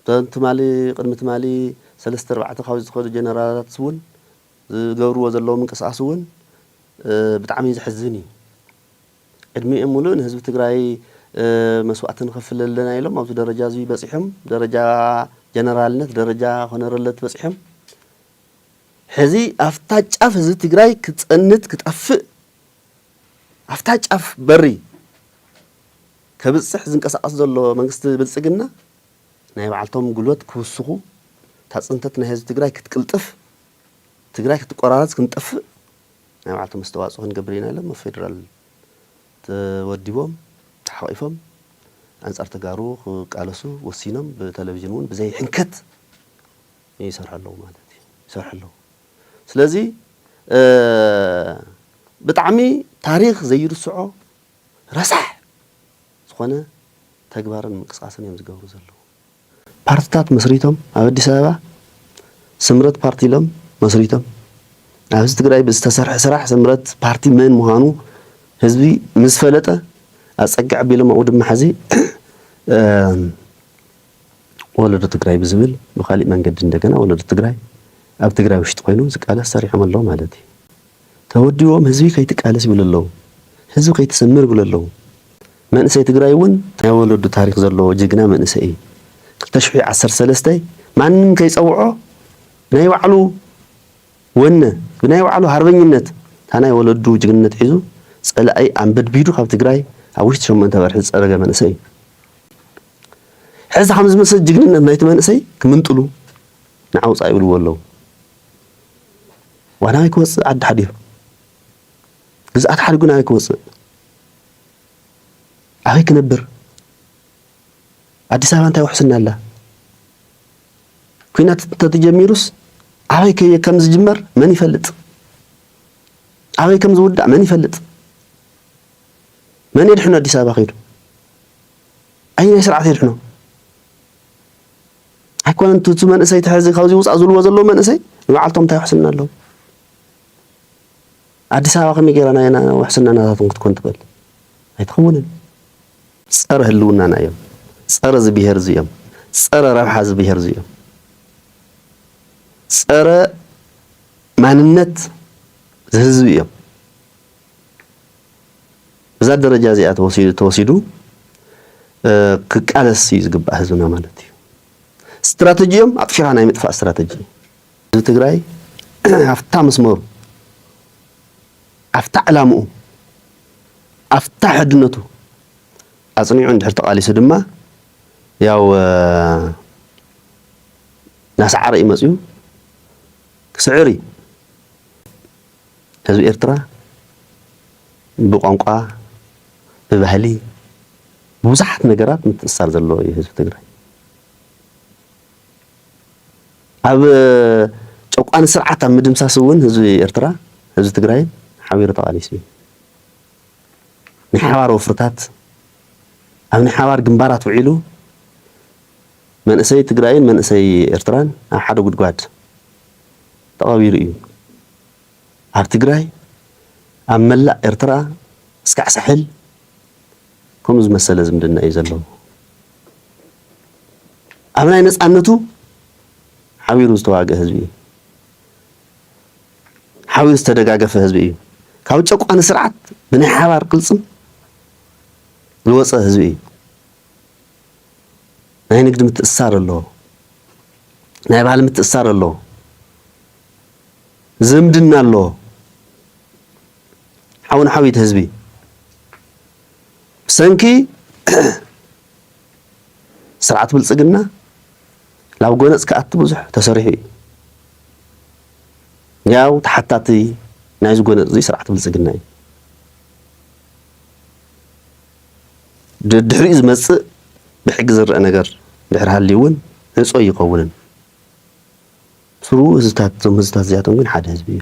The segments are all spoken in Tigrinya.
እቶም ትማሊ ቅድሚ ትማሊ ሰለስተ ኣርባዕተ ካብ ዝኸዱ ጀነራላትስ እውን ዝገብርዎ ዘለዉ ምንቅስቓስ እውን ብጣዕሚ ዘሕዝን እዩ። ዕድሚኦም ሙሉእ ንህዝቢ ትግራይ መስዋእቲ ንኸፍል ኣለና ኢሎም ኣብዚ ደረጃ እዙይ በፂሖም ደረጃ ጀነራልነት ደረጃ ኮነረለት በፂሖም ሕዚ ኣፍታ ጫፍ ህዝቢ ትግራይ ክፀንት ክጠፍእ ኣፍታ ጫፍ በሪ ከብጽሕ ዝንቀሳቐስ ዘሎ መንግስቲ ብልጽግና ናይ ባዕልቶም ጉልበት ክውስኹ እታ ጽንተት ናይ ህዝቢ ትግራይ ክትቅልጥፍ ትግራይ ክትቆራረጽ ክንጠፍእ ናይ ባዕልቶም ኣስተዋጽኦ ክንገብር ኢና ኢሎም ኣብ ፌደራል ተወዲቦም ተሓቒፎም ኣንጻር ተጋሩ ክቃለሱ ወሲኖም ብተለቪዥን እውን ብዘይ ሕንከት ይሰርሑ ኣለዉ ማለት እዩ ይሰርሑ ኣለዉ ስለዚ ብጣዕሚ ታሪኽ ዘይርስዖ ረሳሕ ዝኾነ ተግባርን ምንቅስቓስን እዮም ዝገብሩ ዘለዉ። ፓርትታት መስሪቶም ኣብ ኣዲስ ኣበባ ስምረት ፓርቲ ኢሎም መስሪቶም ኣብ ህዝቢ ትግራይ ብዝተሰርሐ ስራሕ ስምረት ፓርቲ መን ምዃኑ ህዝቢ ምስ ፈለጠ ኣፀግዕ ኣቢሎም ኣብኡ ድማ ሕዚ ወለዶ ትግራይ ብዝብል ብካሊእ መንገዲ እንደገና ወለዶ ትግራይ ኣብ ትግራይ ውሽጢ ኮይኑ ዝቃለስ ሰሪሖም ኣለዉ ማለት እዩ። ተወዲቦም ህዝቢ ከይትቃለስ ይብሉ ኣለው ህዝቢ ከይትስምር ይብሉ ኣለው መንእሰይ ትግራይ እውን ናይ ወለዱ ታሪክ ዘለዎ ጅግና መንእሰይ እዩ ክልተ ሽሕ ዓሰርተ ሰለስተ ማንም ከይፀውዖ ብናይ ባዕሉ ወነ ብናይ ባዕሉ ሃርበኝነት ታናይ ወለዱ ጅግንነት ሒዙ ፀላኢ ኣንበድቢዱ ካብ ትግራይ ኣብ ውሽጢ ሸሞንተ ወርሒ ዝፀረገ መንእሰይ እዩ ሕዚ ከም ዝመሰ ጅግንነት ናይቲ መንእሰይ ክምንጥሉ ንዓውፃ ይብልዎ ኣለዉ ዋላ ኣይክወጽእ ዓዲ ሓዲሩ ግዝኣት ሓዲጉን ኣበይ ክወጽእ ኣበይ ክነብር ኣዲስ ኣበባ እንታይ ውሕስና ኣላ ኩናት እንተተጀሚሩስ ኣበይ ከም ዝጅመር መን ይፈልጥ? ኣበይ ከም ዝውዳእ መን ይፈልጥ? መን የድሕኖ ኣዲስ ኣበባ ከይዱ? ኣይ ናይ ስርዓት የድሕኖ? ኣይኮነን እቲ መንእሰይ ተሐዚ ካብዚ ውፃእ ዝብልዎ ዘለዉ መንእሰይ ንባዕልቶም እንታይ ውሕስና ኣለዎ ኣዲስ ኣበባ ከመይ ጌራ ናይ ውሕስና ናታቶም ክትኮን ትበል ኣይትኸውንን ፀረ ህልውናና እዮም ፀረ እዚ ብሄር እዚ እዮም ፀረ ረብሓ እዚ ብሄር እዚ እዮም ፀረ ማንነት ዝህዝቢ እዮም እዛ ደረጃ እዚኣ ተወሲዱ ክቃለስ እዩ ዝግባእ ህዝብና ማለት እዩ። ስትራተጂኦም ኣጥፊኻ ናይ ምጥፋእ ስትራተጂ እዩ። ህዝቢ ትግራይ ኣብታ መስመሩ ኣብታ ዕላምኡ ኣብታ ሕድነቱ ኣጽኒዑ እንድሕር ተቓሊሱ ድማ ያው ናሰዓረ እዩ መፅዩ ክስዕር እዩ። ህዝቢ ኤርትራ ብቋንቋ ብባህሊ ብብዙሓት ነገራት ምትእስሳር ዘለዎ እዩ ህዝቢ ትግራይ ኣብ ጨቋኒ ስርዓት ኣብ ምድምሳስ እውን ህዝቢ ኤርትራ ህዝቢ ትግራይ ሓቢሩ ተቓሊሱ እዩ ናይ ሓባር ወፍርታት ኣብ ናይ ሓባር ግንባራት ውዒሉ መንእሰይ ትግራይን መንእሰይ ኤርትራን ኣብ ሓደ ጉድጓድ ተቐቢሩ እዩ። ኣብ ትግራይ፣ ኣብ መላእ ኤርትራ እስካዕ ሳሕል ከምኡ ዝመሰለ ዝምድና እዩ ዘለዎ። ኣብ ናይ ነጻነቱ ሓቢሩ ዝተዋግእ ህዝቢ እዩ። ሓቢሩ ዝተደጋገፈ ህዝቢ እዩ። ካብ ጨቋኒ ስርዓት ብናይ ሓባር ቅልጽም ዝወጸ ህዝቢ እዩ። ናይ ንግዲ ምትእስሳር ኣሎ፣ ናይ ባህሊ ምትእስሳር ኣሎ፣ ዝምድና ኣሎ፣ ሓው ንሓው ይትሕዝቢ። ብሰንኪ ስርዓት ብልፅግና ናብ ጎነፅ ክኣቱ ብዙሕ ተሰሪሑ እዩ። ያው ተሓታቲ ናይዚ ጎነፅ እዚ ስርዓት ብልፅግና እዩ። ደድሕሪኡ ዝመጽእ ብሕጊ ዝረኣ ነገር እንድሕር ሃልዩ እውን ዕጹ ኣይኸውንን። ስሩኡ ህዝብታት እዞም ህዝብታት እዚኣቶም ግን ሓደ ህዝቢ እዩ።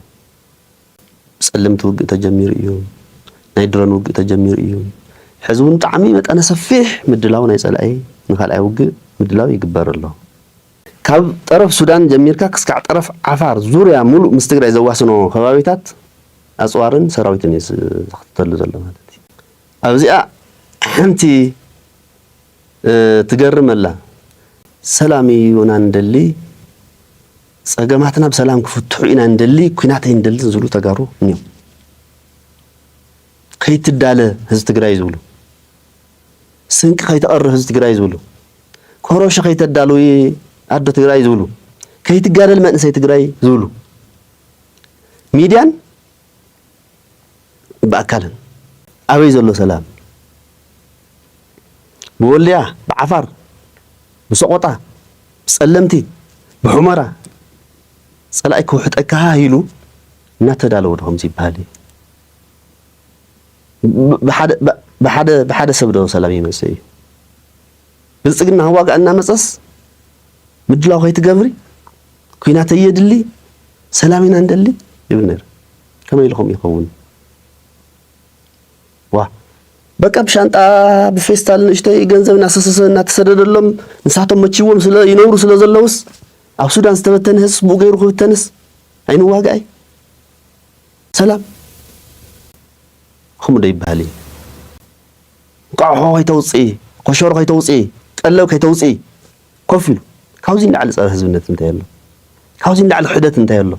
ብጸለምቲ ውግእ ተጀሚሩ እዩ። ናይ ድሮን ውግእ ተጀሚሩ እዩ። ሕዚ እውን ብጣዕሚ መጠነ ሰፊሕ ምድላው ናይ ጸላኢ ንካልኣይ ውግእ ምድላው ይግበር ኣሎ። ካብ ጠረፍ ሱዳን ጀሚርካ ክስካዕ ጠረፍ ዓፋር ዙርያ ሙሉእ ምስ ትግራይ ዘዋስኖ ከባቢታት ኣጽዋርን ሰራዊትን እዩ ዝኽተተሉ ዘሎ ማለት እዩ። ኣብዚኣ ሓንቲ ትገርም ኣላ ሰላም እዩና ንደሊ ጸገማትና ብሰላም ክፍትሑ ኢና ንደሊ ኩናት ኣይንደልን ዝብሉ ተጋሩ እንዮም ከይትዳለ ህዝቢ ትግራይ ዝብሉ ስንቂ ከይተቐርብ ህዝቢ ትግራይ ዝብሉ ኮሮሾ ከይተዳልዊ ኣዶ ትግራይ ዝብሉ ከይትጋደል መንእሰይ ትግራይ ዝብሉ ሚድያን ብኣካልን ኣበይ ዘሎ ሰላም ብወልድያ ብዓፋር ብሰቆጣ ብጸለምቲ ብሑመራ ጸላኢ ክውሕጠካ ሃህ ኢሉ እናተዳለወ ዶ ከምዚ ይበሃል እዩ ብሓደ ሰብ ዶ ሰላም ይመጽእ እዩ? ብልጽግና ህዋጋ እናመጸስ ምድላው ከይትገብሪ ኲናት ኣየድሊ ሰላም ኢና ንደሊ ይብል ነይሩ። ከመይ ኢሉ ከምኡ ይኸውን? ዋ በቃ ብሻንጣ ብፌስታል ንእሽተይ ገንዘብ እናሰሰሰ እናተሰደደሎም ንሳቶም መችዎም ስለ ይነብሩ ስለ ዘለውስ ኣብ ሱዳን ዝተበተነ ህዝብ ብኡ ገይሩ ክብተንስ ኣይንዋጋኣይ ሰላም ከምኡ ዶ ይበሃል እዩ? እንቋዕ ከይተውፅኢ ኮሸሮ ከይተውፅኢ ቀለብ ከይተውፅኢ ኮፍ ኢሉ ካብዚ ንላዕሊ ጸረ ህዝብነት እንታይ ኣሎ? ካብዚ ንላዕሊ ክሕደት እንታይ ኣሎ?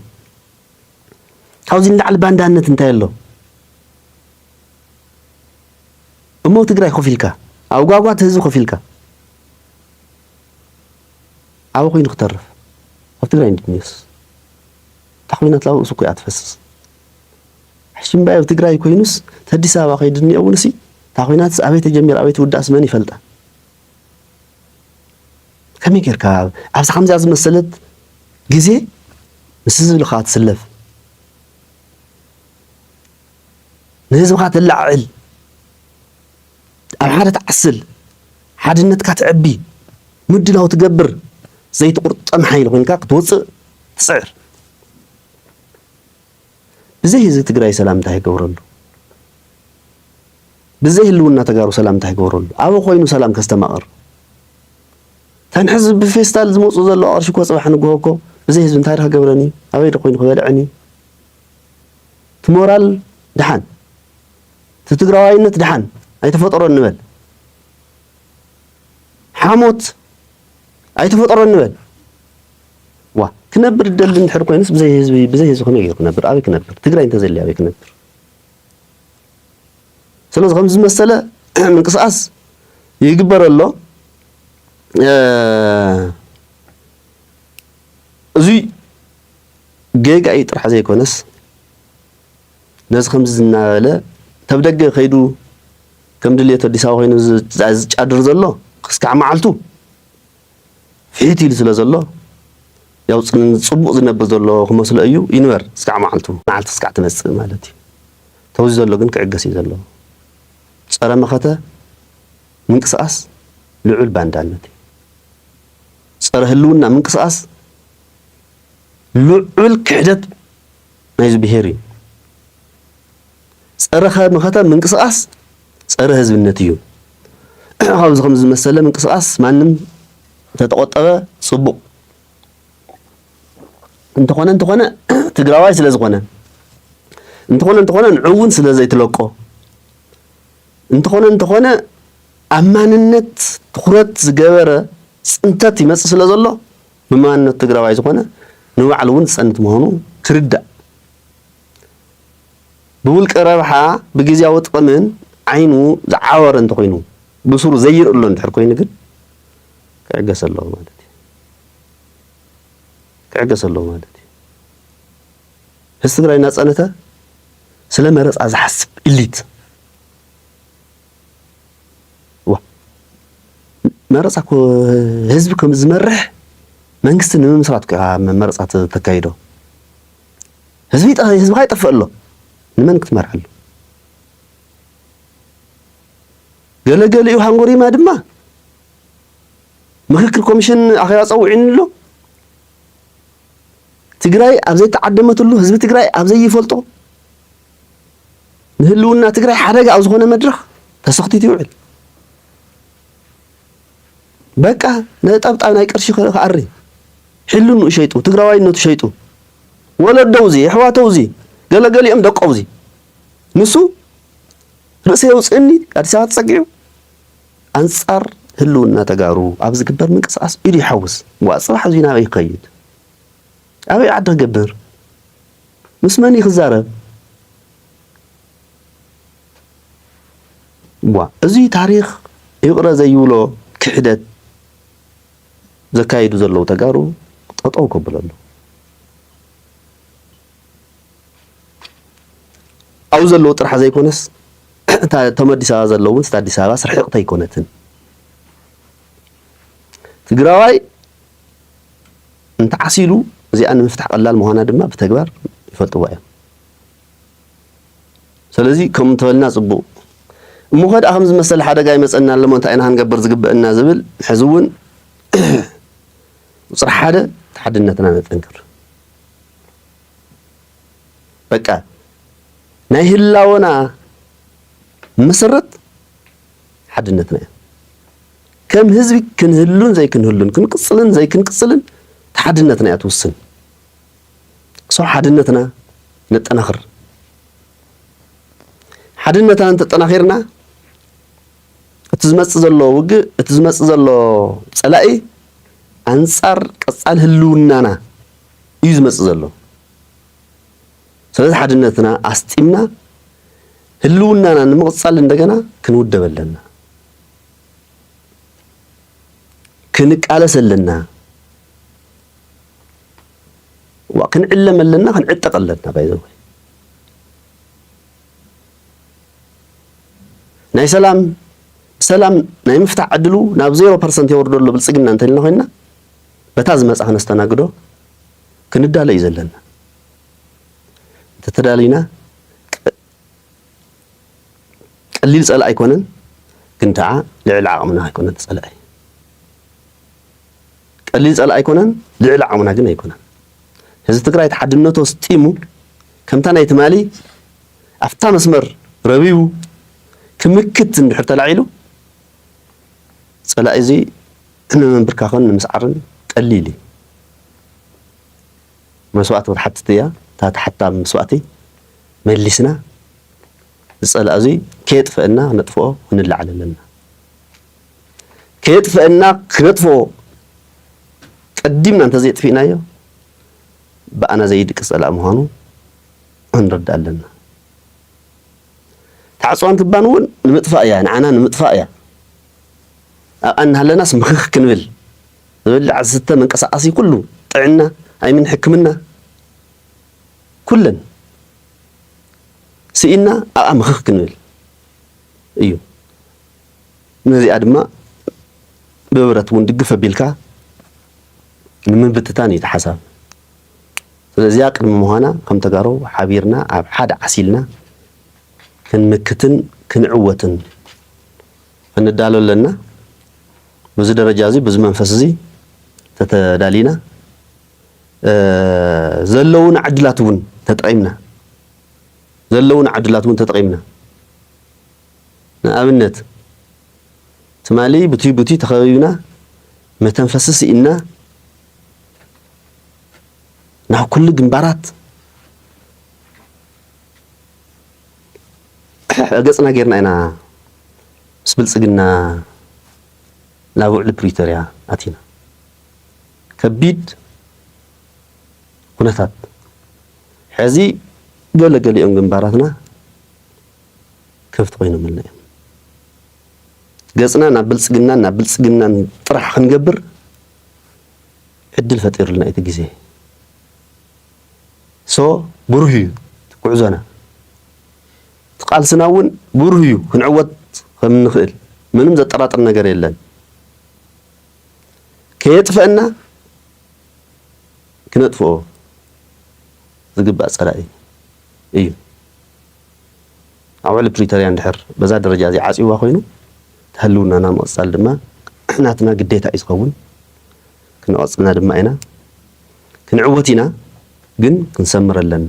ካብዚ ንላዕሊ ባንዳነት እንታይ ኣሎ? እሞ ትግራይ ኮፍ ኢልካ ኣብ ጓጓት ህዝቢ ኮፍ ኢልካ ኣብ ኮይኑ ክተርፍ ኣብ ትግራይ እንዴት ኒውስ እታ ኮይናት ላብ ርእሱ እኮ እያ ትፈስስ ሕሽምባይ ኣብ ትግራይ ኮይኑስ ተዲስ ኣበባ ከይዱ እኒኦ እውን እሲ እታ ኮይናትስ ኣበይ ተጀሚራ ኣበይ ትውዳእስ መን ይፈልጣ ከመይ ጌርካ ኣብዚ ከምዚኣ ዝመሰለት ግዜ ምስ ህዝብኻ ትስለፍ ንህዝብኻ ተላዕዕል ኣብ ሓደ ትዓስል ሓድነትካ ትዕቢ ምድላው ትገብር ዘይትቁርጠም ሓይሊ ኮንካ ክትወፅእ ትፅዕር ብዘይ ህዝቢ ትግራይ ሰላም እንታይ ይገብረሉ ብዘይ ህልውና ተጋሩ ሰላም እንታይ ይገብረሉ ኣበ ኮይኑ ሰላም ከስተማቕር ከም ሕዚ ብፌስታል ዝመፁ ዘሎ ቅርሺ እኮ ፅባሕ ንግሆ እኮ ብዘይ ህዝቢ እንታይ ክገብረን እዩ ኣበይ ዶ ኮይኑ ክበልዐን እዩ እቲ ሞራል ድሓን እቲ ትግራዋይነት ድሓን ኣይተፈጠሮን ንበል ሓሞት ኣይተፈጠሮን ንበል ዋእ ክነብር ዝደሊ እንድሕር ኮይኑስ ብዘይ ህዝቢ ብዘይ ህዝቢ ከመይ ገይሩ ክነብር ኣበይ ክነብር ትግራይ እንተዘይልያ ኣበይ ክነብር ስለዚ ከምዚ ዝመሰለ ምንቅስቃስ ይግበር ኣሎ እዚ ጌጋ እዩ ጥራሕ ዘይኮነስ ነዚ ከምዚ ዝናበለ ተብ ደገ ከይዱ ከም ድሌቱ ኣዲስ ኣበባ ኮይኑ ዝጫድር ዘሎ ክስካዕ መዓልቱ ፍሕት ኢሉ ስለ ዘሎ ያው ጽቡቅ ዝነብር ዘሎ ክመስሎ እዩ ይንበር ስጋዕ መዓልቱ መዓልቲ ስጋዕ ትመጽእ ማለት እዩ ተውዚ ዘሎ ግን ክዕገስ እዩ ዘለዎ ጸረ መኸተ ምንቅስቃስ ልዑል ባንዳነት እዩ ጸረ ህልውና ምንቅስቃስ ልዑል ክሕደት ናይዚ ብሄር እዩ ጸረ ካብ መኸተ ምንቅስቃስ ጸረ ህዝብነት እዩ። ካብዚ ከምዚ ዝመሰለ ምንቅስቃስ ማንም ተተቆጠበ ጽቡቅ እንተኾነ እንተኾነ ትግራዋይ ስለ ዝኾነ እንተኾነ እንተኾነ ንዕውን ስለ ዘይትለቆ እንተኾነ እንተኾነ ኣብ ማንነት ትኩረት ዝገበረ ፅንተት ይመፅእ ስለ ዘሎ ብማንነት ትግራዋይ ዝኾነ ንባዕሉ እውን ዝፀንት ምዃኑ ክርዳእ ብውልቀ ረብሓ ብግዝያዊ ጥቕምን ዓይኑ ዝዓወረ እንተኾይኑ ብሱሩ ዘይርኢ ኣሎ እንድሕር ኮይኑ ግን ክዕገስ ኣለዎ ማለት እዩ ክዕገስ ኣለዎ ማለት እዩ ህዝቢ ትግራይ እናፀነተ ስለ መረፃ ዝሓስብ ኢሊት መረፃ እኮ ህዝቢ ከም ዝመርሕ መንግስቲ ንምምስራት መረፃ ተካይዶ ህዝቢ ህዝብኻ ይጠፍእ ኣሎ ንመን ክትመርሓሉ ገለገሊኡ ሃንጎሪማ ድማ ምክክር ኮሚሽን ኣኼባ ፀውዒኑ ኣሎ ትግራይ ኣብ ዘይተዓደመትሉ ህዝቢ ትግራይ ኣብ ዘይፈልጦ ንህልውና ትግራይ ሓደጋ ኣብ ዝኾነ መድረኽ ተሰኽቲት ይውዕል በቃ ነጠብጣብ ናይ ቅርሺ ክኣሪ ሕልንኡ ሸይጡ ትግራዋይነቱ ሸይጡ ወለዶውዚ የሕዋተውዚ ገለገሊኦም ደቆውዚ ንሱ ርእሰ የውፅእኒ ኣዲስ ኣበባ ተፀጊዑ ኣንፃር ህልውና ተጋሩ ኣብ ዝግበር ምንቅስቃስ ኢዱ ይሓውስ ዋ ፅባሕ እዚ ናበይ ይኸይድ ኣበይ ዓዲ ክገብር ምስ መን ክዛረብ እዋ እዚ ታሪኽ ይቕረ ዘይብሎ ክሕደት ዘካይዱ ዘለዉ ተጋሩ ጠጠው ከብለሉ ኣብኡ ዘለዉ ጥራሕ ዘይኮነስ እቶም ኣዲስ ኣበባ ዘለዉ እውን ኣዲስ ኣበባ ስርሕቕቲ ኣይኮነትን። ትግራዋይ እንተዓሲሉ እዚኣ ንምፍታሕ ቀላል ምዃና ድማ ብተግባር ይፈልጥዋ እዮም። ሰለዚ ከምኡ እንተበልና ጽቡቕ። እሞኸ ደኣ ከምዚ መሰል ሓደጋ ይመጸና ኣሎሞ እንታይ ኢና ክንገብር ዝግበእና ዝብል ሕዚ እውን ቁጽሪ ሓደ ሓድነትና ነጠንክር። በቃ ናይ ህላወና መሰረት ሓድነትና እዩ። ከም ህዝቢ ክንህሉን ዘይክንህሉን ክንቅጽልን ዘይክንቅጽልን ሓድነትና እያ ትውስን። ሶ ሓድነትና ነጠናኽር። ሓድነትና እንተጠናኺርና እቲ ዝመፅእ ዘሎ ውግእ እቲ ዝመፅእ ዘሎ ፀላኢ ኣንፃር ቀፃሊ ህልውናና እዩ ዝመፅእ ዘሎ። ስለዚ ሓድነትና ኣስጢምና ህልውናና ንምቕፃል እንደገና ክንውደብ ኣለና፣ ክንቃለስ ኣለና። እዋ ክንዕለም ኣለና ክንዕጠቅ ኣለና ባይዘወ ናይ ሰላም ሰላም ናይ ምፍታሕ ዕድሉ ናብ ዜሮ ፐርሰንት የወርዶ ኣሎ ብልፅግና እንተልና ኮይና በታ ዝመፃ ክነስተናግዶ ክንዳለ እዩ ዘለና እንተተዳሊና ቀሊል ጸላኢ ኣይኮነን ግን ከዓ ልዕሊ ዓቕምና ኣይኮነን ጸላኢ ቀሊል ጸላኢ ኣይኮነን ልዕሊ ዓቕምና ግን ኣይኮነን ህዝቢ ትግራይ ተሓድነቶ ስጢሙ ከምታ ናይ ትማሊ ኣብታ መስመር ረቢቡ ክምክት እንድሕር ተላዒሉ ጸላኢ እዚ ንምንብርካኽን ንምስዓርን ቀሊል እዩ መስዋእቲ ክትሓትት እያ እታ ተሓታ መስዋእቲ መሊስና ዝጸላእ እዙይ ከየጥፈእና ክነጥፍኦ ክንለዓል ኣለና። ከየጥፈእና ክነጥፍኦ ቀዲምና እንተዘየጥፊእናዮ ብኣና ዘይድቅስ ጸላእ ምዃኑ ክንርዳእ ኣለና። ታዕጽዋን ክባን እውን ንምጥፋእ እያ፣ ንዓና ንምጥፋእ እያ። ኣብኣ እናሃለናስ ምኽኽ ክንብል ዝበልዕ ዝስተ መንቀሳቐሲ ኩሉ ጥዕና ኣይምን ሕክምና ኩለን ስኢንና ኣብኣ ምኽኽ ክንብል እዩ። ነዚኣ ድማ ብብረት እውን ድግፍ ኣቢልካ ንምብትታን እዩ እቲ ሓሳብ። ስለዚኣ ቅድሚ ምዃና ከም ተጋሩ ሓቢርና ኣብ ሓደ ዓሲልና ክንምክትን ክንዕወትን ክንዳሎ ኣለና። በዚ ደረጃ እዚ በዚ መንፈስ እዚ ተተዳሊና ዘለዉና ዕድላት እውን ተጠቒምና ዘለዉና ዕድላት እውን ተጠቒምና ንኣብነት ትማሊ ብቲ ብቲ ተኸቢብና መተንፈሲ ስኢንና ናብ ኩሉ ግንባራት ገጽና ጌርና ኢና ምስ ብልጽግና ናብ ውዕሊ ፕሪቶርያ ኣቲና ከቢድ ኩነታት ሕዚ ገለ ገሊኦም ግንባራትና ከፍት ኮይኖምልና እዮም። ገጽና ናብ ብልጽግናን ናብ ብልጽግናን ጥራሕ ክንገብር ዕድል ፈጢሩልና እዩ እቲ ግዜ። ሶ ብሩህ እዩ እቲ ጉዕዞና እቲ ቃልስና እውን ብሩህ እዩ ክንዕወት ከም እንኽእል ምንም ዘጠራጥር ነገር የለን። ከየጥፈእና ክነጥፍኦ ዝግባእ ፀላኢ እዩ። ኣብ ውዕሊ ፕሪቶርያ እንድሕር በዛ ደረጃ እዚ ዓፅዋ ኮይኑ ተህልውናና ምቕፃል ድማ ናትና ግዴታ እዩ ዝኸውን። ክነቐፅልና ድማ ኢና ክንዕወት ኢና ግን ክንሰምር ኣለና።